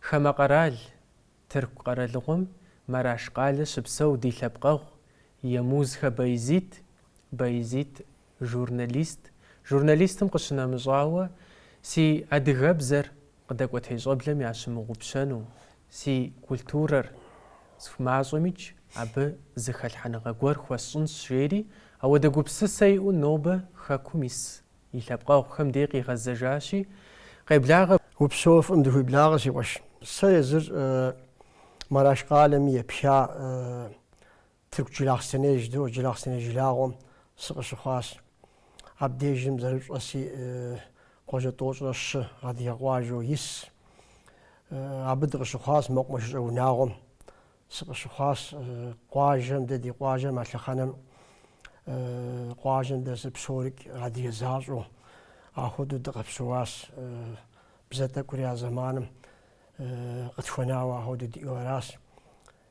Хамэ къэрал, Тырку къэралыгъуэм Мараш къалэ щыпсэу ди лъэпкъэгъу Емузхэ Байзит, Байзит, журналист, журналистым къыщынэмыщӏауэ, си адыгэбзэр къыдэкӏуэтей щӏэблэм ящымыгъупщэну, си культурэр сху, мащӏэмикӏ, абы зы хэлъхьэныгъэ гуэр хуэсщӏынщ, жери, ауэдэ гупсысэ иӏэу нобэ Хэкум ис И лъэпкъэгъухэм дей къигъэзэжащи, къеблагъэ. Упсэу, фӏым дыхуиблагъэ, си къуэш. Сэ езыр Мараш къалэми епха Тырку Джылахъстэней жыдоӏэ, Джылахъстэней жылагъуэм сыкъыщыхъуащ. Абдежым зэрыпщӏэщи, къуажэ тӏощӏрэ щы адыгэ къуажэу ис. Абы дыкъыщыхъуащ мэкъумэшыщӏэ унагъуэм. Сыкъыщыхъуащ къуажэм, дэ ди къуажэм, а лъэхъэнэм къуажэм дэс псорикӏ адыгэ защӏэу, ахуэдэу дыкъэпсэуащ. Бзэ тӏэкӏури а зэманым къытхуэнауэ ахуэдэу диӏэу аращ.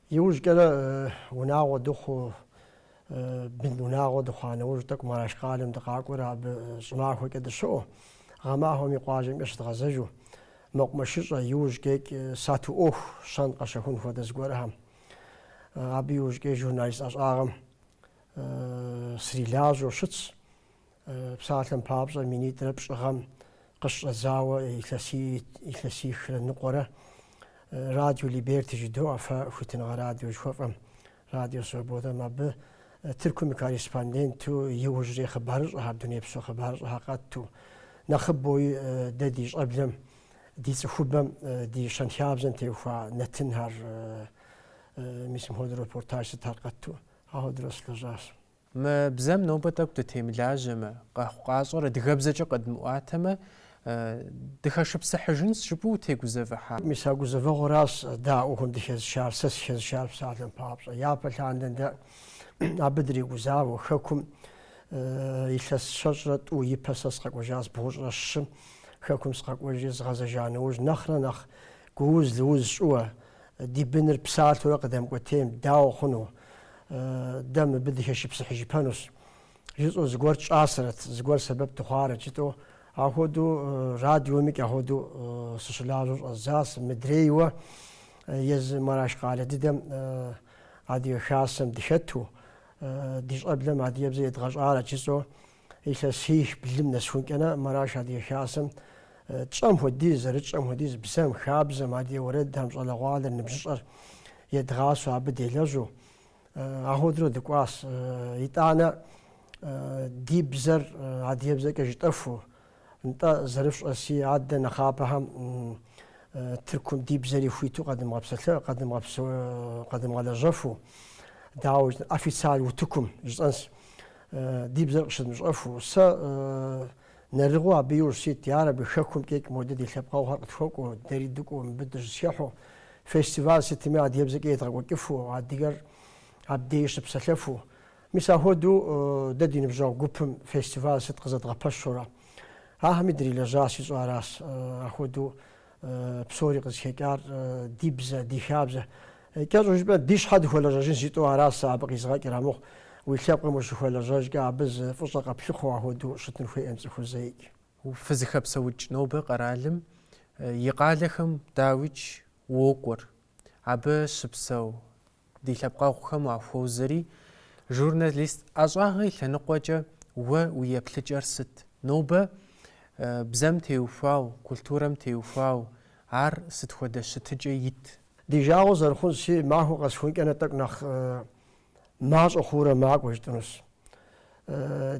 Иужькӏэрэ унагъуэ дыхъуу Бын унагъуэ дыхъуа нэужь тӏэкӏу Мараш къалэм дыкъакӏуэрэ абы щӏымахуэкӏэ дыщыӏэу, гъэмахуэми къуажэмкӏэ щыдгъэзэжу, мэкъумэшыщӏэ иужькӏэикӏ сату ӏуэху щэн-къэщэхун хуэдэ зыгуэрхэм. Абы иужькӏэи журналист ӏэщӏагъэм срилажьэу щытщ. Псалъэм папщӏэ, минитӏрэ пщӏы гъэм къыщӏэдзауэ илъэсихрэ ныкъуэрэ Радио Либерти жыдоӏэ фэ хуитыныгъэ радио жыхуэфӏэм, Радио Свободэм. Абы Тыркум и корреспонденту иужьрей хъыбарыщӏэхэр, дунейпсо хъыбарыщӏэхэр къэтту. Нэхъыбэуи дэ ди щӏэблэм, ди цӏыхубэм, ди щэнхабзэм теухуа нэтынхэр, мис мыпхуэдэу репортаж сытхэр къэтту, ахуэдэурэ сылэжьащ. Мы бзэм нобэ тӏэкӏу дытемылажьэмэ, къэхъукъащӏэр адыгэбзэкӏэ къыдмыӏуатэмэ, дыхэшыпсыхьыжынщ жыпӏэу утегузэвыхьа? Мис а гузэвэгъуэращ дэ ӏуэхум дыхэзышар, сэ сыхэзышар псалъэм папщӏэ. Япэ лъандэ дэ абы дрегузавэу, Хэкум илъэс щэщӏрэ тӏу ипэ сэ сыкъэкӏуэжащ бгъущӏрэ щым, Хэкум сыкъэкӏуэжри згъэзэжа нэужь, нэхърэ нэхъ гууз-лыуз щӏыуэ, Ди быныр псалъэурэ къыдэмыкӏуэтейм, дауэ хъуну? Дэ мыбы дыхэшыпсыхьыжыпэнущ! жысӏэу зыгуэр тщӏащэрэт, зыгуэр сэбэп дыхъуарэт жытӏэу, ахуэдэу радиомикӏ ахуэдэу сыщылажьэу щӏэздзащ, мыдрейуэ езы Мараш къалэ дыдэм Адыгэ Хасэм дыхэту, ди щӏэблэм адыгэбзэ едгъэщӏарэт жысӏэу. Илъэсих-блым нэсыхункӏэ на, Мараш Адыгэ Хасэм тщӏэм хуэдиз, зэрытщӏэм хуэдиз, бзэм, хабзэм, адыгэ уэрэдхэм щӏалэгъуалэр, ныбжьыщӏэр едгъасэу абы делэжьу, ахуэдэурэ дыкӏуащ. Итӏанэ ди бзэр адыгэбзэкӏэ жытӏэху. Нтӏэ, зэрыфщӏэси, адэ нэхъапэхэм Тыркум ди бзэри хуиту къэдымыгъэпсэлъэ, къэдымыгъэлэжьэфу, дауэ жытӏэ, официаль утыкум жысӏэнс, ди бзэр къыщыдмыщӏэфу. Сэ нэрыгъыу абы иужь сит, ар абы хэкум кӏекӏ модэ ди лъэпкъэгъухэр къытхуэкӏуэу, дэри дыкӏуэу мыбы дыщызхыхьу, фестиваль сытми адыгэбзэкӏэ едгъэкӏуэкӏыфу, адыгэр абдеи щыпсэлъэфу, Мис ахуэдэу дэ ди ныбжьэгъу гупым фестиваль сыт къызэдгъэпэщурэ, ахэми дрилэжьащ жысӏэу аращ. Ахуэдэу псори къызыхэкӏар ди бзэ, ди хабзэ. Кӏэщӏу жыпӏэ, ди щхьэ дыхуэлэжьэжын жытӏу аращ сэ абы къизгъэкӏыр. Амыхъу, уи лъэпкъым ущыхуэлэжьэжкӏэ абы зы фӏыщӏэ къэплъыхъуэу ахуэдэу щытын хуейӏым цӏыхур зэикӏ. Фызыхэпсэукӏ нобэ къэралым и къалэхэм дауикӏ уокӏуэр, абы щыпсэу Ди лъэпкъэгъухэм уахуозэри, журналист ӏэщӏагъэ и лъэныкъуэкӏэ уэ уи еплъыкӏэр сыт? Нобэ бзэм теухуау, культурэм теухуау ар сыт хуэдэ щытыкӏэ ит? Ди жагъуэ зэрыхъунси, махуэ къэсхункӏэ нэ тӏэкӏу нэхъ мащӏэ хъуурэ макӏуэ жытӏэнущ.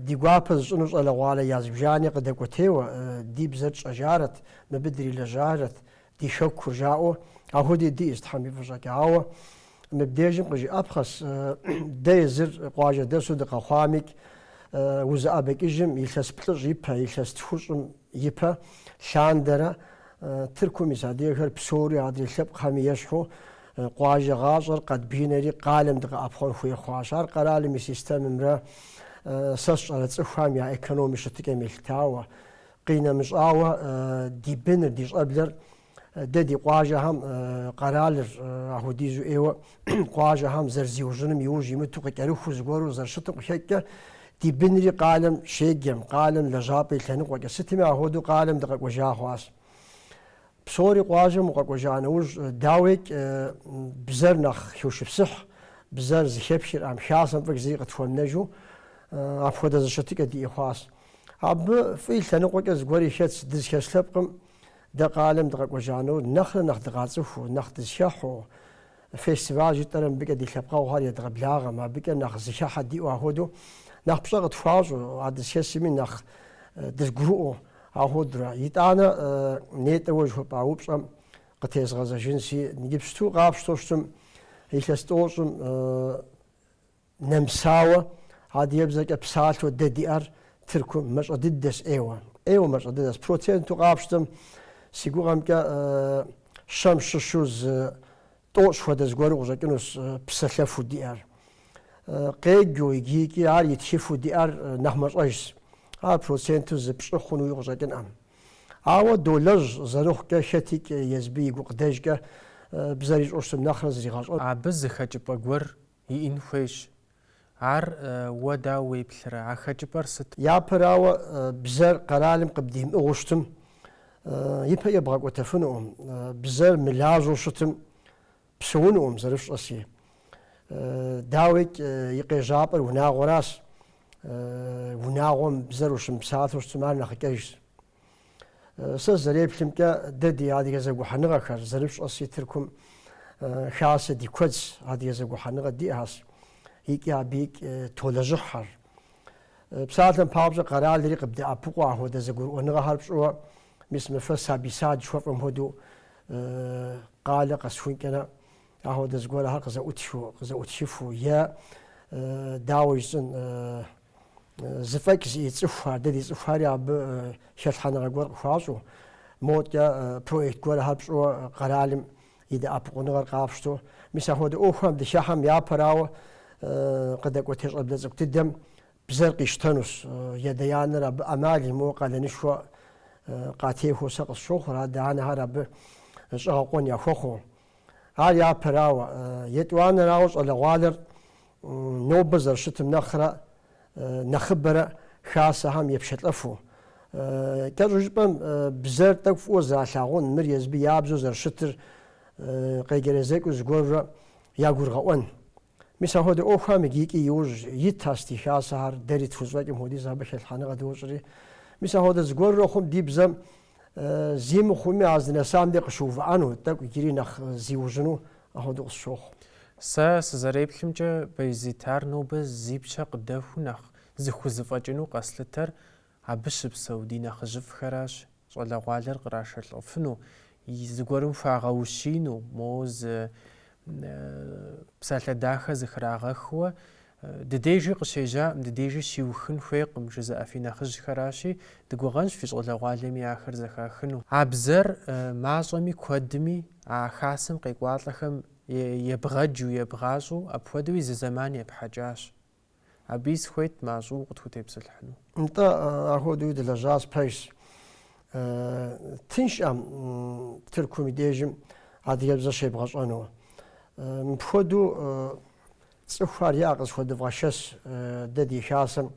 Ди гуапэ зыщӏыну щӏалэгъуалэ я зыбжани къыдэкӏуэтейуэ, ди бзэр тщӏэжарэт, мыбы дрилэжьарэт, Ди Хэкур жаӏэу Ахуэди диӏэщ Тхьэм и фӏыщӏэкӏэ. Ауэ мыбдежым къыжиӏэпхъэщ, Дэ езыр къуажэ дэсу дыкъэхъуамикӏ, узыӏэбэкӏыжым илъэс плӏыщӏ ипэ, илъэс тхущӏым ипэ, лъандэрэ, Тыркум ис адыгэхэр псори адрей лъэпкъхэми ещхьу, къуажэ гъащӏэр къэдбгынэри къалэм дыкъэӏэпхъуэн хуей хъуащ. Ар къэралым и системэмрэ сэ сщӏэрэ цӏыхухэм я экономи щытыкӏэм елъытауэ, Къинэмыщӏауэ, ди быныр, ди щӏэблэр, дэ ди къуажэхэм къэралыр ахуэдизу ӏейуэ къуажэхэм зэрызиужьыным иужь имыту къыкӏэрыхуу зыгуэру зэрыщытым къыхэкӏкӏэ, ди бынри къалэм щеджэм, къалэм лэжьапӏэ и лъэныкъуэкӏэ сытми ахуэдэу къалэм дыкъэкӏуэжа хъуащ. Псори къуажэм укъэкӏуэжа нэужь, дауейкӏ, бзэр нэхъ хошыпсыхь, бзэр зыхэпхыр, ӏэм, хасэм фӏык зыри къытхуэмынэжу, апхуэдэ зы щытыкӏэ диӏэ хъуащ. Абы фӏы и лъэныкъуэкӏэ зыгуэри хэтщ, дызхэс лъэпкъым дэ къалэм дыкъэкӏуэжа нэужь, нэхърэ нэхъ дыкъацӏыхуу, нэхъ дызхэхьу, Фестиваль жытӏэрэ мыбыкӏэ ди лъэпкъэгъухэр едгъэблагъэм, абыкӏэ нэхъ зыхыхьэ диӏэу ахуэдэу, нэхъ пщӏэ къытхуащӏу, а дызхэсми нэхъ дызгурыӏуэу ахуэдурэ. Итӏанэ нетӏэ уэ жыхуэпӏа упщӏэм къытезгъэзэжынси, иджыпсту къапщтэу щытым, илъэс тӏощӏым Нэмысауэ, адыгэбзэкӏэ псалъэу дэ диӏэр Тыркум мэщӏэ дыдэщ ӏейуэ. ӏейуэ мэщӏэ дыдэщ. Проценту къапщтэм, си гугъэмкӏэ, щэм щыщу зы тӏощӏ хуэдэ зыгуэру къыщӏэкӏынущ псэлъэфу диӏэр. Къеджэу икӏи ар итхыфу диӏэр нэхъ мэщӏэжщ, ар проценту зы пщӏы хъунуи къыщӏэкӏынӏэм. Ауэ долэжь зэрыхъукӏэ, хэтикӏ езыбы и гукъыдэжкӏэ бзэр ищӏэу щытым нэхърэ зригъэщӏэт. Абы зы хэкӏыпӏэ гуэр Иӏэн хуейщ. Ар уэ дауэ уеплърэ? А хэкӏыпӏэр сыт? Япэрауэ, бзэр къэралым къыбдимыӏыгъыу щытым, ипэ ебгъэкӏуэтэфынуӏэм. Бзэр мылажьэу щытым, псэунуӏэм, зэрыфщӏэси. Дауикӏ, и къежьапӏэр унагъуэращ. Унагъуэм бзэр ущымыпсалъэу щытым, ар нэхъыкӏэжщ. Сэ зэреплъымкӏэ, дэ ди адыгэ зэгухьэныгъэхэр, зэрыпщӏэси, Тыркум хасэ ди куэдс, адыгэ зэгухьэныгъэ диӏэщ, икӏи абыикӏ толэжьыхьхэр. Псалъэм папщӏэ, къэралри къыбдэӏэпыкъуэ ахуэдэ зэгурыӏуэныгъэхэр пщӏыуэ, мис мы фэ сабий сад жыхуэфӏэм хуэдэу къалэ къэсхункӏэрэ ахуэдэ зыгуэрхэр къызэӏутхыу, къызэӏутхыфу е дауэ жысӏэн, Зэфӏэкӏ зиӏэ цӏыхухэр, дэ ди цӏыхухэри абы хэлъхьэныгъэ гуэр къыхуащӏу, модкӏэ проект гуэрхэр пщӏыуэ къэралым и дэӏэпыкъуныгъэр къапщтэу. Мис апхуэдэ ӏуэхухэм дыхыхьэм япэрауэ къыдэкӏуэтей щӏэблэ цӏыкӏу дыдэм бзэр къищтэнущ. И адэ-анэр абы ӏэмал имыӏэу къалэнышхуэ къатехуэу сэ къысщохъур, адэ-анэхэр абы щӏэгъэкъуэн яхуэхъуу. Ар япэрауэ, етӏуанэрауэ щӏалэгъуалэр нобэ зэрыщытым нэхърэ нэхъыбэрэ хасэхэм епшэлӏэфу. Кӏэщӏу жыпӏэм, бзэр тӏэкӏу фӏыуэ зэралъагъун, мыр езыбы я бзэу зэрыщытыр къеджэрэзэкӏыу зыгуэрурэ ягурыгъэӏуэн. Мис апхуэдэ ӏуэхухэм иджы икӏи иужь итхэс ди Хасэхэр, дэри тхузэфӏэкӏым хуэдиз абы хэлъхьэныгъэ дощӏри. Мис апхуэдэ зыгуэрурэ хъум ди бзэм зи мыхъуми, а здынэсам деж къыщыувыӏэну, тӏэкӏу иджыри нэхъ зиужьыну апхуэдэу къысщохъу. Сэ сызэреплъымкӏэ, Баязит, ар нобэ зи пщэ къыдэхуэу нэхъ зыхузэфӏэкӏыну къэслъытэр Абы щыпсэу ди нэхъыжьыфӏхэращ щӏалэгъуалэр кърашэлӏэфыну, зыгуэрым хуагъэущину, моуэ зы псалъэ дахэ зыхрагъэхыуэ, ди дежи къыщежьаӏым, ди дежи щиухын хуейкъым, жызыӏэ фи нэхъыжьхэращи, дыгугъэнщ фи щӏалэгъуалэми ахэр зэхахыну. А бзэр мащӏэми куэдми а Хасэм къекӏуалӏэхэм ебгъэджу, ебгъащӏэу апхуэдэуи зы зэман епхьэкӏащ. Абыи сыхуейт мащӏэу укъытхутепсэлъыхьыну. Нтӏэ, апхуэдэуи дылэжьащ, пэжщ. Тыншӏэм Тыркум и дежым адыгэбзэ щебгъэщӏэну. Мыпхуэдэу цӏыхухэр иӏэ къызэхуэдывгъэшэс дэ ди хасэм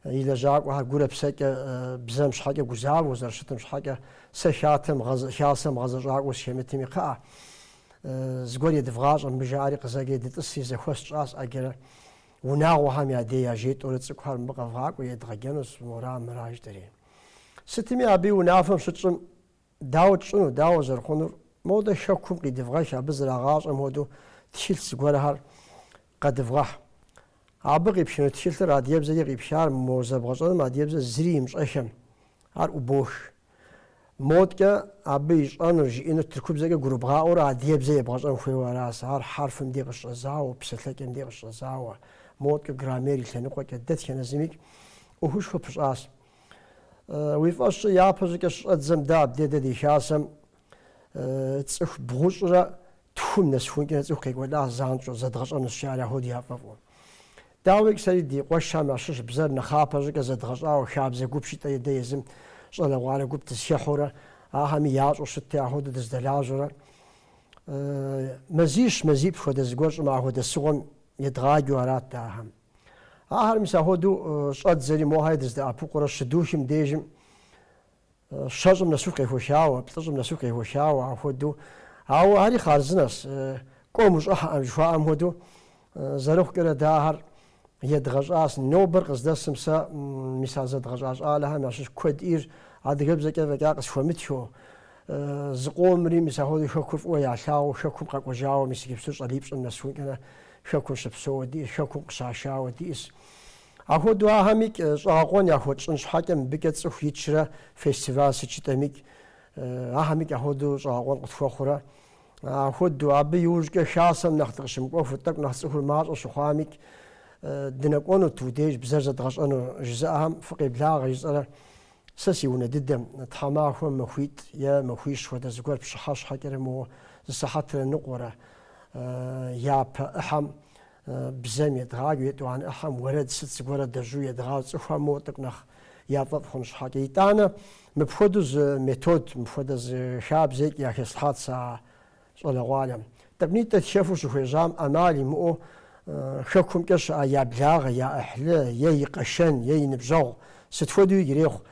и лэжьакӏуэхэр гурэ псэкӏэ бзэм щхьэкӏэ гузавэу зэрыщытым щхьэкӏэ сэ хатэм, хасэм гъэзэщӏакӏуэу сыхэмытми, кхъыӏэ, Зыгуэр едывгъащӏэ, мыбы жаӏэри къызэджи дытӏыси, зэхуэс тщӏащ ӏэджэрэ. Унагъуэхэм я дей яжетӏэурэ цӏыкӏухэр мыбы къэвгъакӏуи едгъэджэнущ, мора, мыра жыдӏэри. Сытми, абы и унафэм щытщӏым, дауэ тщӏыну, дауэ зэрыхъунур, модэ Хэкум къидывгъэх, абы зэрагъащӏэм хуэдэу тхылъ зыгуэрхэр Къэдывгъэхь. Абы къипхыну тхылъыр адыгэбзэкӏэ къипхар мо зэбгъэщӏэным адыгэбзэ зыри имыщӏэхэм, ар ӏубош. Модкӏэ абы ищӏэнур, жиӏэнур тыркубзэкӏэ гурыбгъаӏуэурэ адыгэбзэ ебгъэщӏэн хуейуэ арасэ, ар хьэрфым дей къыщыщӏэдзауэ, псэлъэкӏэм дей къыщыщӏэдзауэ, модкӏэ граммер и лъэныкъуэкӏэ, дэтхэнэ зымикӏ ӏуэхушхуэ пыщӏащ. Уи фӏэщкӏэ япэщӏыкӏэ щыщӏэддзэм дэ абде дэ ди хасэм Цӏыху бгъущӏрэ тхум нэсхункӏэрэ цӏыху къекӏуэлӏащ занщӏэу, зэдгъэщӏэнущи ар ахуэдэу яфӏэфӏу. Дауикӏ, сэри ди къуэшхэм ящыщ бзэр нэхъапэ щӏыкӏэ зэдгъэщӏауэ, хабзэ гуп щыӏэти езым щӏалэгъуалэ гуп дызэхыхьэурэ, ахэми ящӏэу щытти, ахуэдэу дыздэлажьэрэ. Мазищ, мазиплӏ хуэдэ зыгуэр щӏымахуэ дэсыгъуэм едгъаджэу арат ахэм. Ахэр мис ахуэдэу щӏэддзэри, мохэри дыздэӏэпыкъурэ щыдухым дежым Щэщӏым нэсыху къехуэхауэ, плӏыщӏым нэсыху къехуэхауэ ахуэдэу. Ауэ ари хъарзынэщ, кӏуэм ущӏыхьэкъым жыхуаӏэм хуэдэу. Зэрыхъукӏэрэ дэ ахэр едгъэщӏащ. Нобэр къыздэсым сэ мис а зэдгъэщӏа щӏалэхэм ящыщ куэдыр адыгэбзэкӏэ фӏэкӏа къысхуэмытхэу. Зыкъомри мис ахуэдэу Хэкур фӏыуэ ялъагъуу Хэкум къэкӏуэжауэ мис иджыпсту щӏалипщӏым нэсункӏэрэ Хэкум щыпсэууэ диӏэщ, Хэкум къыщашауэ диӏэщ. Ахуэдэу ахэмикӏ щӏэгъэкъуэн яхуэтщӏын щхьэкӏэ мыбыкӏэ цӏыху итшэрэ фестиваль сыт жытӏэмикӏ, ахэмикӏ ахуэдэу щӏэгъэкъуэн къытхуэхъурэ. Ахуэдэу, абы иужькӏэ хасэм нэхъ дыкъыщымыкӏуэфу, тӏэкӏу нэхъ цӏыхур мащӏэ щыхъуамикӏ, дынэкӏуэнут уи деж бзэр зэдгъэщӏэну жызыӏэхэм фыкъеблагъэ жысӏэрэ. Сэ си унэ дыдэм, тхьэмахуэм махуитӏ е махуищ хуэдэ зыгуэр пщыхьэщхьэкӏэрэ моуэ зы сыхьэтрэ ныкъуэрэ япэ ӏыхьэм Бзэм едгъаджи, етӏуанэ ӏыхьэм уэрэд сыт зыгуэрэ дежьу едгъащӏи, цӏыхухэм мор тӏэкӏу нэхъ яфӏэфӏ хъун щхьэкӏэ. Итӏанэ, мыпхуэдэу зы метод, мыпхуэдэ зы хабзэкӏи яхэслъхьат сэ а щӏалэгъуалэм. Тӏэкӏунитӏэ тхэфу щыхуежьам ӏэмал имыӏэу хэкумкӏэ щыӏэ я благъэ, я ӏыхьлы е и къэшэн е и ныбжьэгъу сыт хуэдэуи ирехъу.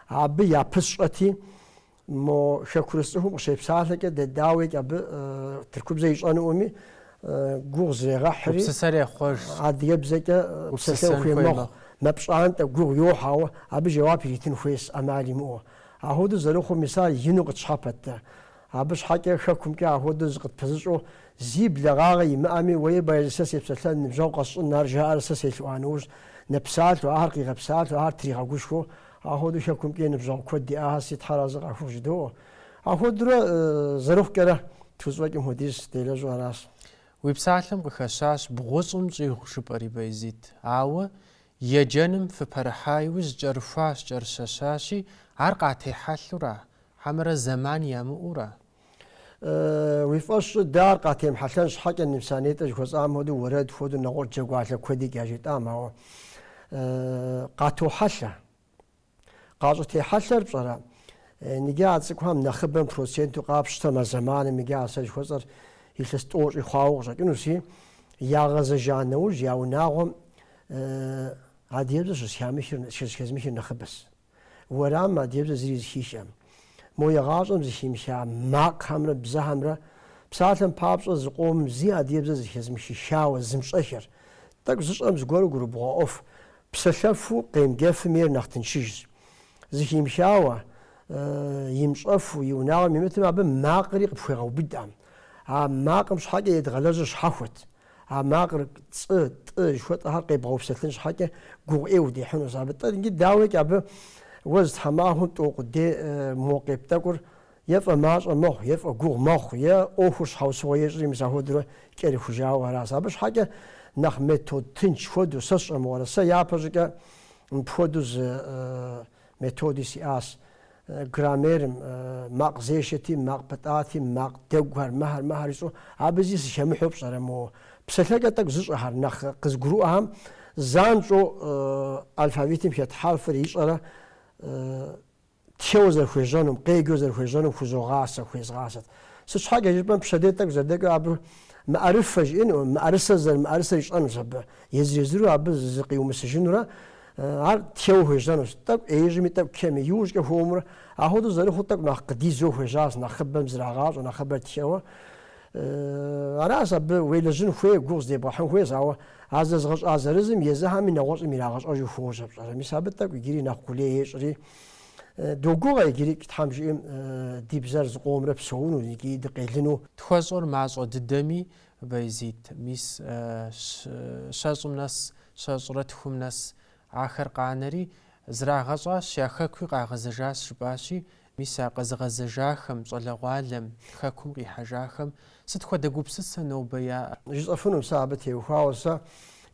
Абы япысщӏэти, Мо хэкурыс цӏыхум къыщепсалъэкӏэ дэ дауикӏ абы тыркубзэ ищӏэнуӏэми гугъу зрегъэхьри, Гупсысэр ехъуэж. Адыгэбзэкӏэ псэлъэн хуей мэхъу, мэпщӏантӏэ, гугъу йохь, ауэ абы жэуап иритын хуейс ӏэмал имыӏэу. Ахуэдэу зэрыхъум, мис ар ину къытщхьэпэт дэ. Абы щхьэкӏэ хэкумкӏэ ахуэдэу зыкъытпэзыщӏэу, зи блэгъагъэ имыӏэми, уэи, Баязид, сэ сепсэлъэн, ныбжьэгъу къэсщӏын, ар жаӏэр сэ селъэӏуа нэужь, нэпсалъэу, ахэр къигъэпсалъэу, ахэр тригъэгушхуэу, Ахуэдэу Хэкумкӏи ныбжьэгъу куэд диӏахэси Тхьэразы къахухъу жыдоӏэ. Ахуэдурэ зэрыхъукӏэрэ тхущӏэкӏым хуэдиз делэжьу аращ. Уи псалъэм къыхэщащ бгъущӏым щӏигъу жыпӏэри, Баязид. Ауэ еджэным фыпэрыхьа иужь кӏэрыхуащ, кӏэрыщэщащи, ар къатехьэлъура, хьэмэрэ зэман ямыӏэура? Уи фӏэщ щӏы, дэ ар къатемыхьэлъэн щхьэкӏэ мис а нетӏэ жыхуэсӏам хуэдэу уэрэд хуэдэу нэгъуэщӏ джэгуалъэ куэдикӏ яжетӏам, ауэ къатохьэлъэ. Къащӏытехьэлъэр пщӏэрэ? Иджы а цӏыкӏухэм нэхъыбэм проценту къапщтэмэ, а зэманым иджы а сэ жыхуэсӏэр илъэс тӏощӏи хъуауэ къыщӏэкӏынущи, ягъэзэжа нэужь я унагъуэм адыгэбзэр щызыхэзмыхыр нэхъыбэс. уэрамым адебзэ зыри зыхихӏэм, мо егъащӏэм зыхимыха макъхэмрэ бзэхэмрэ, псалъэм папщӏэ зыкъомым зи адебзэ зыхэзымыхыххауэ зымыщӏэхэр, тӏэкӏу зыщӏэм зыгуэру гурыбгъэӏуэфу псэлъэфу къемыджэфым ейр нэхъ тыншыжщ. Зыхимыхауэ, имыщӏэфу и унагъуэм имытым, абы макъри къыпхуегъэубыдӏэм, а макъым щхьэкӏэ едгъэлэжьыр щхьэхуэт. А макъыр, цӏы, тӏы жыхуэтӏэхэр къебгъэупсэлъын щхьэкӏэ гугъу ӏей удехьынущ. Абы тӏэ иджы дауикӏ абы уэ зы тхьэмахуэм тӏэу къудей мо къепт тӏэкӏур е фӏэмащӏэ мэхъу, е фӏэгугъу мэхъу, е ӏуэхур щхьэусыгъуэ ещӏри мис ахуэдурэ кӏэрыхужауэ аращ. Абы щхьэкӏэ нэхъ метод тынч хуэдэу сэ сщӏэмыгъуэрэ, сэ япэщӏыкӏэ мыпхуэдэу зы Методи сиӏащ граммерым, макъ зешэти, макъ пытӏати, макъ дэгухэр, мыхэр, мыхэр ищӏу. Абы зи сыхэмыхьэу пщӏэрэ моуэ. Псалъэкӏэ тӏэкӏу зыщӏэхэр, нэхъ къызгурыӏуэхэм занщӏэу алфавитым хэт хьэрфыр ищӏэрэ тхэуэ зэрыхуежьэнум, къеджэу зэрыхуежьэнум хузогъасэ, хуезгъасэт. Сыт щхьэкӏэ жыпӏэм, пщэдей тӏэкӏу зэрыдэкӏуэу абы мыӏэрыфэ жиӏэнукъым, мыӏэрысэ зэрымыӏэрысэр ищӏэнущ абы, езыр-езыру абы зыкъиумысыжынурэ Ар тхэуэ хуежьэнущ, тӏэкӏу ӏеижьми, тӏэкӏу кхеми, иужькӏэ хуэмурэ. Ахуэдэу зэрыхъур тӏэкӏу нэхъ къыдидзэу хуежьащ, нэхъыбэм зрагъащӏэ, нэхъыбэр тхэуэ. Аращ абы уелэжьын хуейр, гугъу здебгъэхьын хуейр, ауэ а зэзыгъэщӏа зырызым езыхэми нэгъуэщӏым ирагъэщӏэжу хуожьэ пщӏэрэ. Мис абы тӏэкӏу иджыри нэхъ къулей ещӏри. Догугъэ иджырикӏ, Тхьэм жиӏэм, ди бзэр зыкъомрэ псэуну икӏи дыкъелыну. Тхуэщӏыр мащӏэ дыдэми, Байзид, мис, щэщӏым нэс, щэщӏрэ тхум нэс ахэр къанэри, зрагъэщӏащ, я хэкуи къагъэзэжащ, жыпӏащи, мис а къэзыгъэзэжахэм, щӏалэгъуалэм, хэкум къихьэжахэм сыт хуэдэ гупсысэ нобэ яӏэр? Жысӏэфынум сэ абы теухуауэ, сэ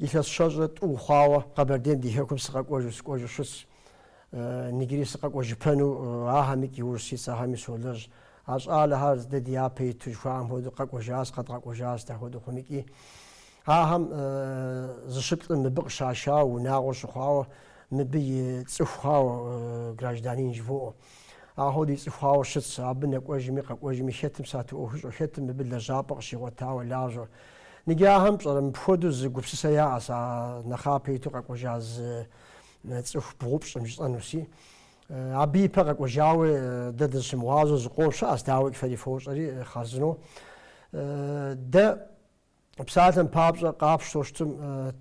илъэс щэщӏрэ тӏум хъуауэ Къэбэрдейм ди хэкум сыкъэкӏуэжу, сыкӏуэжу щытс. Нигри сыкъэкӏуэжыпэну ахэмикӏ иужь ситс, ахэми солэжь. А щӏалэхэр дэ ди япэ иту жыхуаӏэм хуэдэу къэкӏуэжащ, къэдгъэкӏуэжащ дэ хуэдэу хъумикӏи. Ахэм зыщыплӏым мыбы къыщашауэ, унагъуэ щыхъуауэ, мыбы и цӏыху хъуауэ гражданин жывоӏэ. А хуэдэу и цӏыху хъуауэ щытщ, абы нэкӏуэжми къэкӏуэжми хэтым сату ӏуэху ищӏэу, хэтым мыбы лэжьапӏэ къыщигъуэтауэ лажьэу. Ныджы ахэм пщӏэрэ мыпхуэдэу зы гупсысэ яӏэщ а нэхъапэ иту къэкӏуэжа зы цӏыху бгъупщӏым жысӏэнуси? Абы ипэ къэкӏуэжауэ дэ дызыщымыгъуазэу зыкъом щыӏэщ, дауи фэри фощӏэри, хъарзынэу. Дэ псалъэм папщӏэ къапщтэу щытым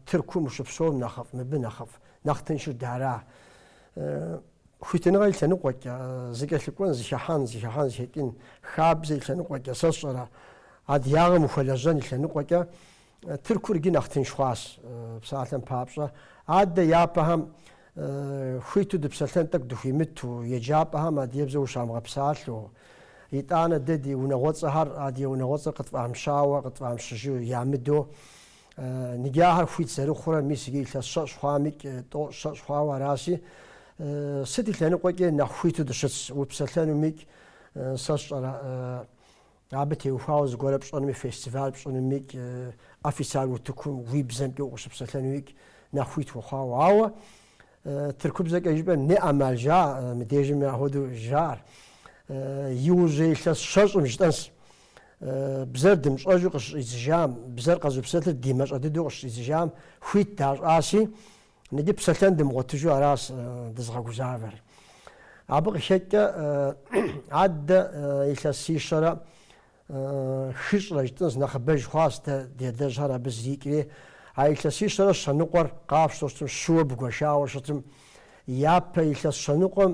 Тыркум ущыпсэум нэхъыфӏ, мыбы нэхъыфӏ, нэхъ тыншыр дара? Хуитыныгъэ и лъэныкъуэкӏэ, зыкӏэлъыкӏуэн, зыхыхьэн, зыхыхьэн, зыхэкӏын, хабзэ и лъэныкъуэкӏэ, сэ сщӏэрэ, адыягъэм ухуэлэжьэн и лъэныкъуэкӏэ, Тыркур иджы нэхъ тынш хъуащ псалъэм папщӏэ. Адэ япэхэм хуиту дыпсэлъэн тӏэкӏу дыхуимыту, еджапӏэхэм адыгебзэу ущамыгъэпсалъэу. Итӏанэ дэ ди унагъуэцӏэхэр адыгэ унагъуэцӏэр къытфӏамыщауэ, къытфӏамыщыжу ямыдэу, нигы ахэр хуит зэрыхъурэ, мис иджы илъэс щэщӏ хъуамикӏ, тӏощӏ щэщӏ хъуауэ араси, сыт и лъэныкъуэкӏи нэхъ хуиту дыщытс, упсэлъэнумикӏ, сэ сщӏэрэ, Абы теухуауэ зыгуэрэ пщӏэнуми, фестиваль пщӏынумикӏ, официаль утыкум уи бзэмкӏэ укъыщыпсэлъэнуикӏ нэхъ хуит ухъуауэ. Ауэ тыркубзэкӏэ жыпӏэм не ӏэмал жаӏэ, мы дежми ахуэдэу жаӏэр. Иужьрей илъэс щэщӏым жытӏэнс. Бзэр дымыщӏэжу къыщыщӏидзыжам, бзэр къэзыпсэлъыр дымащӏэ дыдэу къыщыщӏидзыжам хуит дащӏаси, Иджы псэлъэн дымыгъуэтыжу аращ дызыгъэгузавэр. Абы къыхэкӏкӏэ адэ илъэсищэрэ хыщӏрэ жытӏэнс, нэхъыбэж хъуащ дэ ди адэжьхэр абы зэрикӏри. А илъэсищэрэ щэныкъуэр къафщтэу щытым, щыуэ бгуэшауэ щытым. Япэ илъэс щэныкъуэм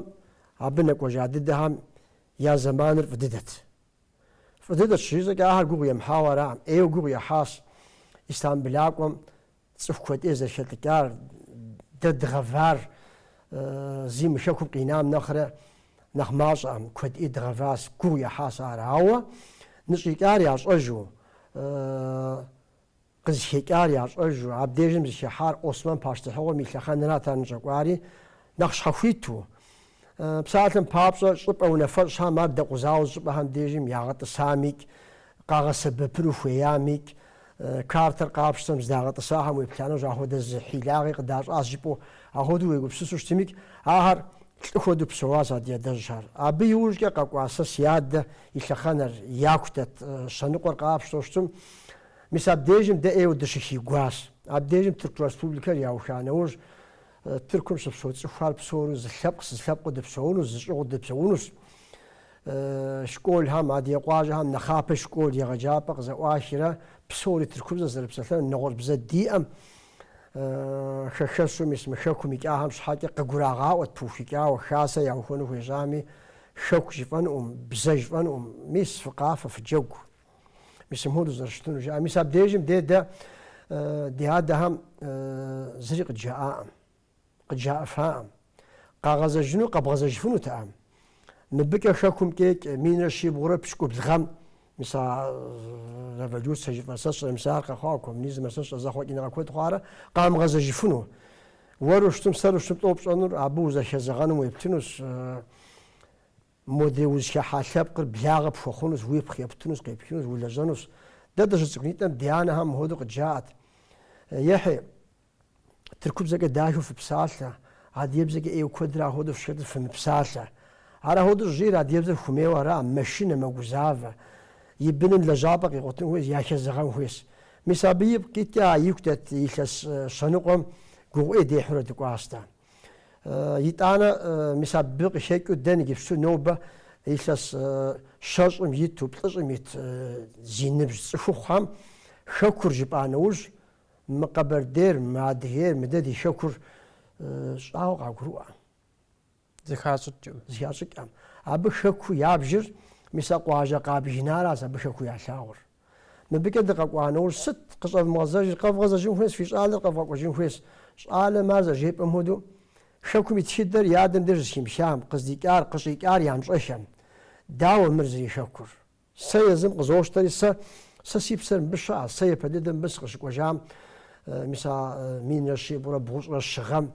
абы нэкӏуэжа дыдэхэм я зэманыр фӏы дыдэт. Фӏы дыдэт щыжысӏэкӏэ ахэр гугъу емыхьауэ аракъым, ӏейуэ гугъу ехьащ Истамбылакӏуэм Цӏыху куэд ӏей зэрыхэлӏыкӏар, дэ дгъэвар зи мы хэкум къинам нэхърэ нэхъ мащӏэкъым, куэд ӏей дгъэващ, гугъу ехьащ ар, ауэ ныщӏикӏар ящӏэжу, къызыхэкӏар ящӏэжу, абдежым зыхихьар Осман пащтыхьыгъуэм и лъэхъэнэрат ар ныщӏэкӏуари, Нэхъ щхьэхуиту, псалъэм папщӏэ, щӏыпӏэ унафэщӏхэм ар дэкъузауэ зы щӏыпӏэхэм дежым ягъэтӏысамикӏ, къагъэсэбэпыну хуеямикӏ, картэр къапщтэм здагъэтӏысахэм уеплъа нэужь, ахуэдэ зы хьилагъи къыдащӏащ жыпӏэу, ахуэдэу уегупсысу щытымикӏ, ахэр лӏы хуэдэу псэуащ а ди адэжьхэр. Абы иужькӏэ къэкӏуа сэ си адэ и лъэхъэнэр яку дэт щэныкъуэр къапщтэу щытым. Мис абдежым дэ ӏейуэ дыщыхигуащ. Абдежым Тырку Республикэр яухуа нэужь, Тыркум щыпсэу цӏыхухэр псори зы лъэпкъщ, зы лъэпкъыу дыпсэунущ, зы щӏыгъуу дыпсэунущ. Школхэм, адыгэ къуажэхэм нэхъапэ школ егъэджапӏэ къызэӏуахирэ псори тыркубзэ зэрыпсэлъэнур нэгъуэщӏ бзэ диӏэкъым, хэхэсу мис мы хэкум икӏахэм щхьэкӏэ къагурагъаӏуэт пыухыкӏауэ, хасэ яухуэну хуежьами, хэку жыфӏэнукъым, бзэ жыфӏэнукъым, мис фыкъафэ, фыджэгу, Мис мыхуэдэу зэрыщытыну жаӏэ. Мис абдежым де дэ ди адэхэм зыри къыджаӏакъым, къыджаӏыфакъым. Къагъэзэжыну къэбгъэзэжыфынутэкъым. Мыбыкӏэ хэкум кӏекӏ минрэ щибгъурэ пщӏыкӏубл гъэм мис а революцэ жыфӏэ сэ сщӏэ, мис ар къэхъуауэ коммунизмэ сэ сщӏэ зэхъуэкӏыныгъэ куэд хъуарэ къамыгъэзэжыфыну. Уэру щытым, сэру щытым тӏэу пщӏэнур абы узэхэзэгъэным уеплъынущ. Модрей узыхыхьа лъэпкъыр благъэ пхуэхъунущ, уипхъу ептынущ, къепхынущ, улэжьэнущ. Дэ дыщыцӏыкӏунитӏэм ди анэхэм мыхуэдэу къыджаӏэт, Ехьи, тыркубзэкӏэ дахэу фыпсалъэ, адыгэбзэкӏэ ӏейуэ куэдрэ ахуэдэу фщхэтыр фымыпсалъэ. Ар ахуэдэу щӏыжиӏэр адыгэбзэр хуэмейуэ ара, мэшынэ, мэгузавэ. И быным лэжьапӏэ къигъуэтын хуейщ, яхэзэгъэн хуейщ. Мис абы ипкъ иткӏэ а ику дэт илъэс щэныкъуэм гугъу ӏей дехьурэ дыкӏуащ дэ. Итӏанэ, мис абы къыхекӏыу дэ иджыпсту нобэ илъэс щэщӏым иту плӏыщӏым ит зи ныбжь цӏыхухъухэм Хэкур жыпӏа нэужь, мы къэбэрдейр, мы адыгейр, мыдэ ди Хэкур щӏауэ къагурыӏуэкъым. Зыхащӏыкӏым. Зыхащӏыкӏкъым. Абы Хэку ябжыр мис а къуажэ къабгынаращ абы Хэку ялъагъур. Мыбыкӏэ дыкъэкӏуа нэужь сыт къыщӏэвмыгъэзэжыр? Къэвгъэзэжын хуейщ, фи щӏалэр къэвгъэкӏуэжын хуейщ. Щӏалэм ар зэрыжепӏэм хуэдэу, Хэкум и тхыдэр и адэм деж зэхимыхам, къыздикӏар, къыщӏикӏар ямыщӏэхэм. Дауэ мыр зэрихэкур? Сэ езым къызощтэри, сэ, сэ си псэр мыбы щыӏэщ, сэ япэ дыдэ мыбы сыкъыщыкӏуэжам, мис а минрэ щибгъурэ бгъущӏрэ щы гъэм.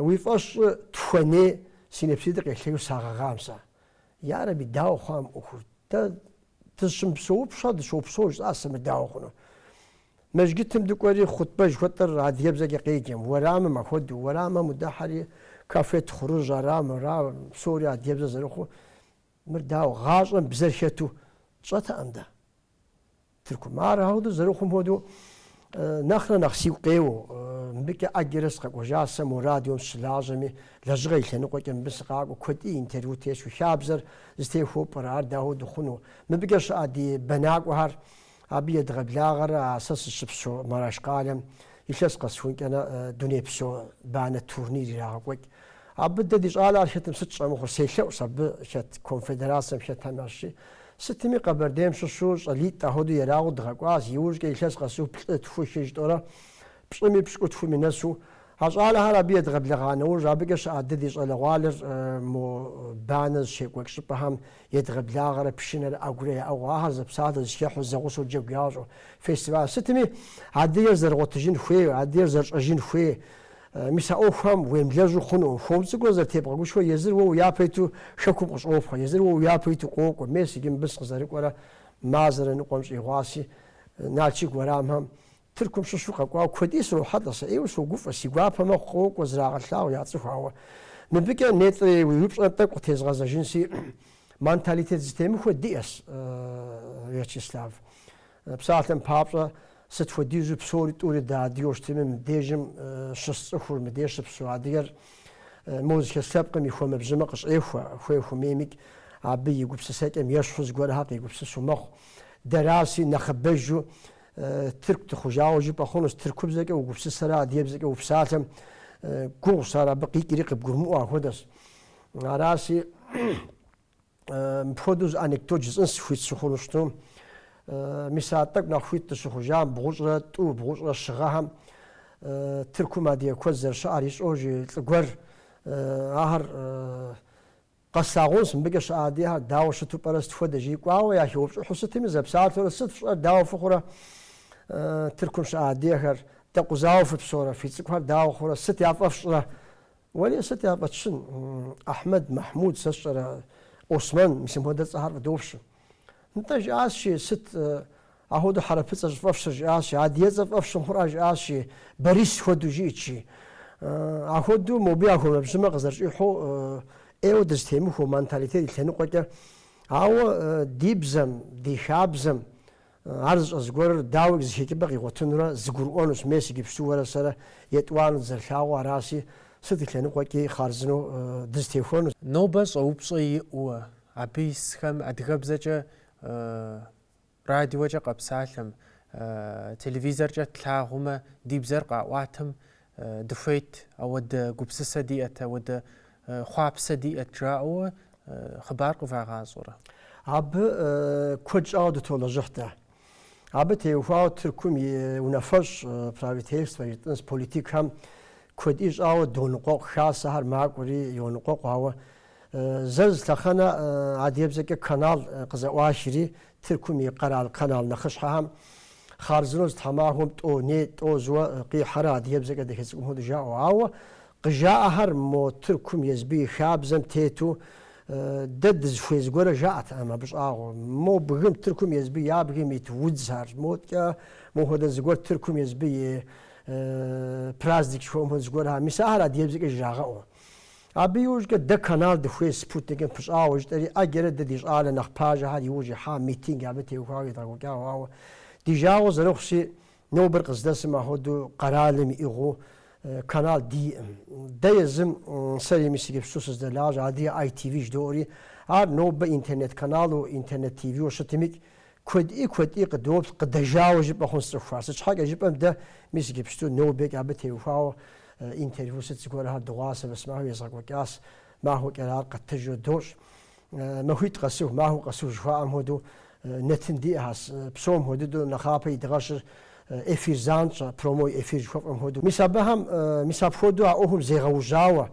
Уи фӏэщ щӏы, тхуэней, си нэпситӏыр къелъэу сагъэгъам сэ. Ярэби, дауэ хъуа мы ӏуэхур? Дэ дыщымыпсэупщӏэ, дыщопсэу жысӏащ сэ, мыр дауэ хъуну. Мэжгытым дыкӏуэри, хъутбэ жыхуэтӏэр адыгэбзэкӏэ къеджэм, уэрамым ахуэдэу, уэрамым удыхьэри, кафе тхъурыжь ара мыра, псори адыгэбзэ зэрыхъуу. Мыр дауэ, гъащӏэм бзэр хэту тщӏэтэкъым дэ. Тыркум. Ар ахуэдэу зэрыхъум хуэдэу нэхърэ нэхъ сигу къеуэу, мыбыкӏэ ӏэджэрэ сыкъэкӏуэжа сэ мо радиом сыщылажьэми, лэжьыгъэ и лъэныкъуэкӏэ мыбы сыкъакӏуэу куэдкӏи интервью тесхыу, хабзэр зытехуэу пӏэрэ, ар дауэ дыхъуну? Мыбыкӏэ щыӏэ ди бэнакӏуэхэр абы едгъэблагъэрэ, а сэ сыщыпсэу Мараш къалэм илъэс къэсхункӏэрэ дунейпсо банэ турнир ирагъэкӏуэкӏ. Абы дэ ди щӏалэ хэтым сыт щӏэмыхъур, селъэӏу сэ абы хэт конфедерацэм хэтхэми. Сытми, Къэбэрдейм щыщу щӏалитӏ ахуэдэу ерагъыу дгъэкӏуащ, иужькӏэ илъэс къэсу плӏы, тху, хы жытӏэурэ пщӏыми пщыкӏутхуми нэсу. А щӏалэхэр абы едгъэблэгъа нэужь, абыкӏэ щыӏэ дэ ди щӏалэгъуалэр мо банэ зыщекӏуэкӏ щӏыпӏэхэм едгъэблагъэрэ пшынэрэ ӏэгурэ яӏыгъыу, ахэр зэпсалъэу, зыхехьэу, зэгъусэу джэгу ящӏу фестиваль сытми, адыгэр зэрыгъуэтыжын хуейр, адыгэр зэрыщӏэжын хуейр, Мис а ӏуэхухэм уемылэжьу хъунукъым. Хуэм цӏыкӏуу зэрытебгъэгушхуэу езыр уэ уи япэ иту хэкум къыщӏопхъуэ, езыр уэ уи япэ иту къокӏуэ, мес иджы мыбы сыкъызэрыкӏуэрэ мазэрэ ныкъуэм щӏигъуаси, Налшык уэрамхэм Тыркум щыщу къэкӏуауэ куэди срохьэлӏэ, сэ ӏейуэ согуфӏэ, си гуапэ мэхъу къокӏуэ зрагъэлъагъу яцӏыху, ауэ мыбыкӏэ нетӏри уи упщӏэр тӏэкӏу къытезгъэзэжынси, манталитет зытемыхуэ диӏэщ, Вячеслав. Псалъэм папщӏэ, сыт хуэдизу псори тӏури дэ адыгэу щытми, мыдежым щыс цӏыхур, мыдеж щыпсу адыгэр мо зыхэс лъэпкъым и хуэмэбжьымэ къыщӏехуэ, хуей хумеймикӏ, абы и гупсысэкӏэм ещхьу зыгуэрхэр къегупсысу мэхъу. Дэраси, нэхъыбэжу, тырку дыхъужауэ жыпӏэ хъунущ, тыркубзэкӏэ угупсысэрэ адыгебзэкӏэ упсалъэм гугъущ ар абы къикӏри къыбгурымыӏуэ ахуэдэщ. Араси, Мыпхуэдэу зы анекдот жысӏэн схуит сыхъуну щытым. Мис а тӏэкӏу нэхъ хуит дыщыхъужам, бгъущӏрэ тӏу, бгъущӏрэ щы гъэхэм Тыркум адыгэ куэд зэрыщыӏэр ищӏэу жи лӏы гуэр. Ахэр къэслъагъунщ, мыбыкӏэ щыӏэ адыгэхэр дауэ щыту пӏэрэ, сыт хуэдэ жи кӏуауэ яхеупщӏыхьу сытми, зэпсалъэурэ, Сыт фщӏэр, дауэ фыхъурэ? Тыркум щыӏэ адыгэхэр, Дэкъузауэ фыпсэурэ? Фи цӏыкӏухэр дауэ хъурэ? Сыт яфӏэфщрэ? Уэлей сыт яфӏэтщын, Ахьмэд, Махьмуд, сэ сщӏэрэ, Осмэн, мис мыпхуэдэ цӏэхэр фӏыдощ. Нтӏэ, жиӏащи, сыт, ахуэдэу хьэрыпыцӏэ щӏыфӏэфщыр, жиӏащи, адыецӏэ фӏэфщым хъурӏа, жиӏащи, Борис хуэдэу жиӏэтщи. Ахуэдэу мобы я хуэмэбжьымэ къызэрыщӏихьу, ӏейуэ дызытемыхуэу, манталитет и лъэныкъуэкӏэ. Ауэ ди бзэм, ди хабзэм Ар зыщӏэ зыгуэрыр дауикӏ зы хэкӏыпӏэ къигъуэтынурэ зыгурыӏуэнущ, мес иджыпсту уэрэ сэрэ етӏуанэу дызэрылъагъуу араси, сыт и лъэныкъуэкӏи хъарзынэу дызытехуэну? Нобэ щӏэупщӏэ иӏэу абы исхэм адыгэбзэкӏэ радиокӏэ къэпсалъэм, телевизоркӏэ тлъагъумэ, ди бзэр къаӏуатэм дыхуейт, ауэдэ гупсысэ диӏэт, ауэдэ хъуапсэ диӏэт жаӏэуэ хъыбар къывагъащӏэрэ? Абы куэд щӏауэ дытолэжьыхь дэ. Абы теухуауэ Тыркум и унафэщӏ, правительствэ жытӏынс политикхэм куэди щӏауэ доныкъуэкъу, хасэхэр макӏуэри йоныкъуэкъу, ауэ Зэ зы лъэхъэнэ адыгэбзэкӏэ канал къызэӏуахри, Тыркум и къэрал канал нэхъыщхьэхэм хъарзынэу зы тхьэмахуэм тӏо, не, тӏо зыуэ къихьэрэ адыгэбзэкӏэ дэхецӏыкӏум хуэдэу жаӏэу. Ауэ къыжаӏэхэр мо Тыркум езбы и хабзэм тету дэ дызыхуей зыгуэрэ жаӏэтэкъым абы щӏагъуэ. Мо бгым Тыркум езбы я бгым ит удзхэр. Модэкӏэ мо хуэдэ зыгуэр Тыркум езбы и праздник жыхуаӏэм хуэдэ зыгуэрхэм, мис ахэр адыгэбзэкӏэ жрагъэӏэу. Абы иужькӏэ дэ канал дыхуей спутникым пыщӏауэ жытӏэри, ӏэджэрэ дэ ди щӏалэ нэхъ пажэхэр иужь ихьа митинг абы теухуауэ едгъэкӏуэкӏауэ, ауэ ди жагъуэ зэрыхъущи, нобэр къыздэсым ахуэдэу къэралым иӏыгъыу канал диӏым. Дэ езым сэри мис иджыпсту сыздэлажьэ, адрейр ITV жыдоӏэри, ар нобэ интернет каналу, интернет ТВ-уэ щытымикӏ, Куэди куэди къыдоплъ, къыдэжьауэ жыпӏэ хъунс цӏыхухэр. Сыт щхьэкӏэ жыпӏэм дэ, мис иджыпсту нобэкӏэ абы теухуауэ интервью сыт зыгуэрхэр дыгъуасэ, мис махуэм езгъэкӏуэкӏащ, махуэкӏэрэ ар къэттыжу дощӏ. Махуитӏ къэсыу, махуэ къэсыу жыхуаӏэм хуэдэу нэтын диӏэ, псом хуэмыдэу нэхъапэ идгъэщыр эфир занщӏэ, прямой эфир жыхуэфӏэм хуэдэу. Мис абыхэм, мис апхуэдэу а ӏуэхум зегъэужьауэ,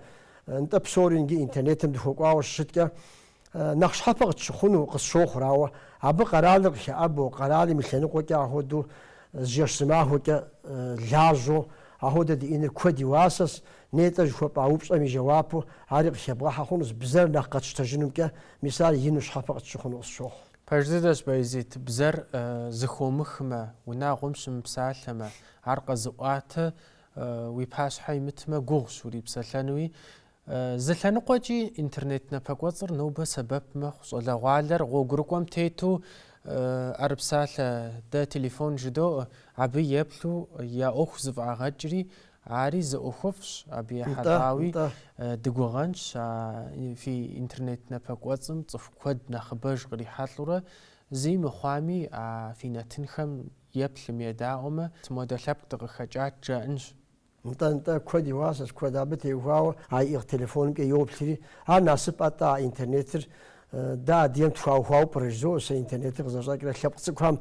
нтӏэ псори нги интернетым дыхуэкӏуауэ щыщыткӏэ, нэхъ щхьэпэ къытщыхъуну къысщохъур, ауэ абы къэралыр къыхэӏэбэу, къэралым и лъэныкъуэкӏэ ахуэдэу зы жэщ зы махуэкӏэ лажьэу, ахуэдэ диӏэныр куэд и уасэщ, нетӏэ жыхуэпӏа упщӏэм и жэуапу ари къыхэбгъэхьэ хъунущ, бзэр нэхъ къэтщтэжынумкӏэ, мис ар ину щхьэпэ къытщыхъуну къысщохъу. Пэж дыдэщ, Баязит, бзэр зыхуомыхмэ, унагъуэм щымыпсалъэмэ, ар къэзыӏуатэ, уи пащхьэ имытмэ, гугъущ урипсэлъэнуи, Зы лъэныкъуэкӏи интернет напэкӏуэцӏыр нобэ сэбэп мэхъу щӏалэгъуалэр гъуэгурыкӏуэм тету ӏэрыпсалъэ дэ телефон жыдоӏэ, абы еплъу я ӏуэху зэфӏагъэкӏри, ари зы ӏуэхуфӏщ, абы ехьэлӏауи дыгугъэнщ а фи интернет напэкӏуэцӏым цӏыху куэд нэхъыбэж кърихьэлӏурэ, зыи мыхъуами а фи нэтынхэм еплъым едаӏуэмэ, модэ лъэпкъ дыкъыхэкӏат жаӏэнщ. Нтӏэ-нтӏэ, куэд и уасэщ, куэд абы теухуауэ а иӏыгъ телефонымкӏэ йоплъри, Ар насып атӏэ а интернетыр? Дэ адыгэм тхуаухуауэ пӏэрэ? Жызоӏэ сэ интернетыр къызэщӏэкӏрэ лъэпкъ цӏыкӏухэм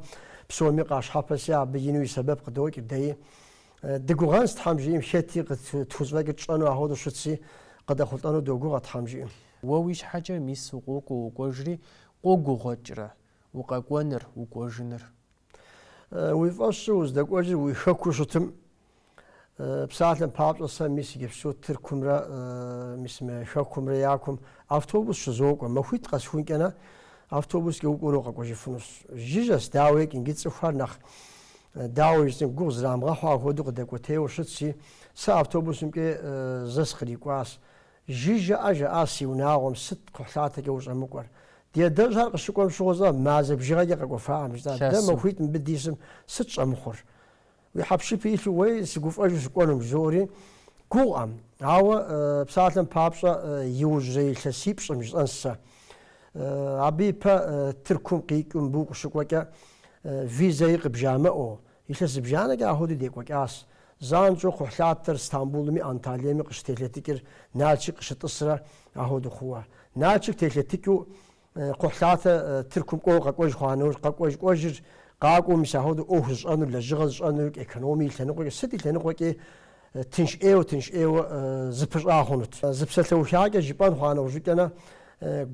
псоми къащхьэпэси абы ину и сэбэп къыдокӏ, дэи. Дыгугъэнщ, Тхьэм жиӏэм хэтикӏ тхузэфӏэкӏыр тщӏэну ахуэдэу щытщи, къыдэхъулӏэну догугъэ, Тхьэм жиӏэм. Уэ уи щхьэкӏэ мис укъокӏуэ уокӏуэжри, къогугъуэкӏрэ укъэкӏуэныр, укӏуэжыныр? Уи фӏэщу уздэкӏуэжыр уи хэкуу щытым, Псалъэм папщӏэ, сэ мис иджыпсту Тыркумрэ мис мы Хэкумрэ я кум автобус щызокӏуэ. Махуитӏ къэсхункӏэ-нэ, автобускӏэ укӏуэну къэкӏуэжыфынущ. Жыжьэщ, дауикӏ, иджы цӏыхухэр нэхъ, дауэ жысӏэн, гугъу зрамыгъэхьу ахуэду къыдэкӏуэтейуэ щытщи, сэ автобусымкӏэ зэ сыкърикӏуащ. Жыжьэӏэ, жаӏащ си унагъуэм, сыт кхъухьлъатэкӏэ ущӏэмыкӏуэр? Ди адэжьхэр къыщыкӏуэм щыгъуэщӏэ, мазэ бжыгъэкӏэ къэкӏуэфакъым жысӏащ. Дэ махуитӏ мыбы дисым сыт щӏэмыхъур? Уи хьэпшыпи илъу уей сыгуфӏэжу сыкӏуэнум жызоӏэри гугъуӏэм. Ауэ псалъэм папщӏэ иужьрей илъэсипщӏым жысӏэнщ сэ. Абы ипэ Тыркум къикӏыу мыбы укъыщыкӏуэкӏэ визэи къыбжамыӏэу, илъэс зыбжанэкӏэ ахуэдэу декӏуэкӏащ. Занщӏэу кхъухьлъатэр Стамбулми Анталеми къыщытелъэтыкӏыр Налшык къыщытӏысрэ ахуэдэу хъууэ. Налшык телъэтыкӏыу Кхъухьлъатэ Тыркум кӏуэуэ къэкӏуэж хъуа нэужь къэкӏуэж кӏуэжыр къакӏуэу мис ахуэдэу ӏуэху зыщӏэнур, лэжьыгъэ зыщӏэнур, экономие и лъэныкъуэкӏэ сыт и лъэныкъуэкӏи тынш ӏейуэ, тынш ӏейуэ зыпыщӏа хъунут. Зы псалъэухакӏэ жыпӏэн хъуа нэужькӏэ-нэ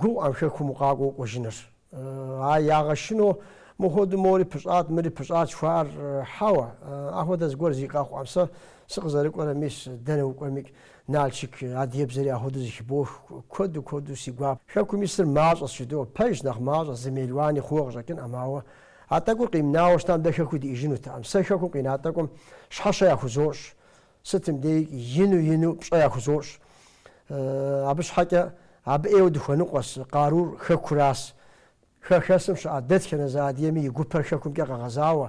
гугъуӏэм хэкум укъакӏуэу укӏуэжыныр. Ар ягъэшынэу мыхуэдэу мори пыщӏат, мыри пыщӏат жыхуаӏэр хьэуэ, ахуэдэ зыгуэр зэи къэхъуӏэм сэ сыкъызэрыкӏуэрэ мис дэнэ укӏуэмикӏ. Налшык, адыгэбзэри ахуэдэу зэхыбох, куэду куэду си гуап. Хэкум исыр мащӏэщ жыдоӏэ, пэжщ, нэхъ мащӏэ, зы мелуани хъууэ къыщӏэкӏынӏэм, ауэ а тӏэкӏур къимнауэ щытам дэ хэкуу диӏижынутэкъым. Сэ хэкум къина тӏэкӏум щхьэщэ яхузощӏ, сытым дей ину-ину пщӏэ яхузощӏ. Абы щхьэкӏэ абы ӏейуэ дыхуэныкъуэс, къарур хэкуращ. Хэхэсым щыӏэ дэтхэнэ зы адыгэми и гупэр хэкумкӏэ къэгъэзауэ,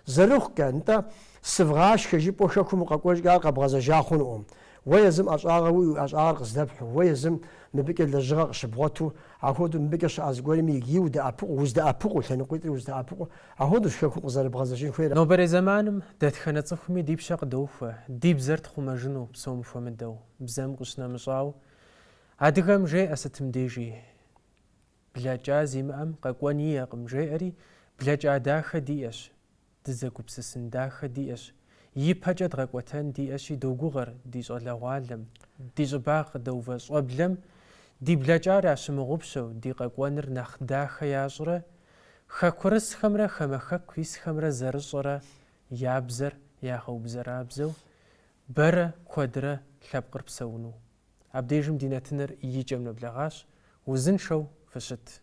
зэрыхъукӏэ, нтӏэ, сывгъашхэ, жыпӏэу хэкум укъэкӏуэжкӏэ ар къэбгъэзэжа хъунукъым. Уэ езым ӏэщӏагъэ уи уи ӏэщӏагъэр къыздэпхьу, уэ езым мыбыкӏэ лэжьыгъэ къыщыбгъуэту, ахуэдэу мыбыкӏэ щыӏэ зыгуэрми иджыри удэӏэпыкъу, уздэӏэпыкъуу, лъэныкъуитӏри уздэӏэпыкъу, ахуэдэущ хэкум къызэрыбгъэзэжын хуейр. Нобэрей зэманым дэтхэнэ цӏыхуми ди пщэ къыдохуэ, ди бзэр тхъумэжыну, псом хуэмыдэу, бзэм къыщынэмыщӏауэ. Адыгэм жеӏэ сытым дежи. Блэкӏа зимыӏэм къэкӏуэн иӏэкъым, жеӏэри, блэкӏа дахэ диӏэщ, дызэгупсысын дахэ диӏэщ, ипэкӏэ дгъэкӏуэтэн диӏэщи догугъэр ди щӏалэгъуалэм, ди щӏыбагъ къыдэувэ щӏэблэм ди блэкӏар ящымыгъупщэу ди къэкӏуэныр нэхъ дахэ ящӏрэ, хэкурысхэмрэ хамэ хэку исхэмрэ зэрыщӏэрэ я бзэр ягъэубзэрабзэу, бэрэ куэдрэ лъэпкъыр псэуну. Абдежым ди нэтыныр и кӏэм нэблэгъащ, узыншэу фыщыт.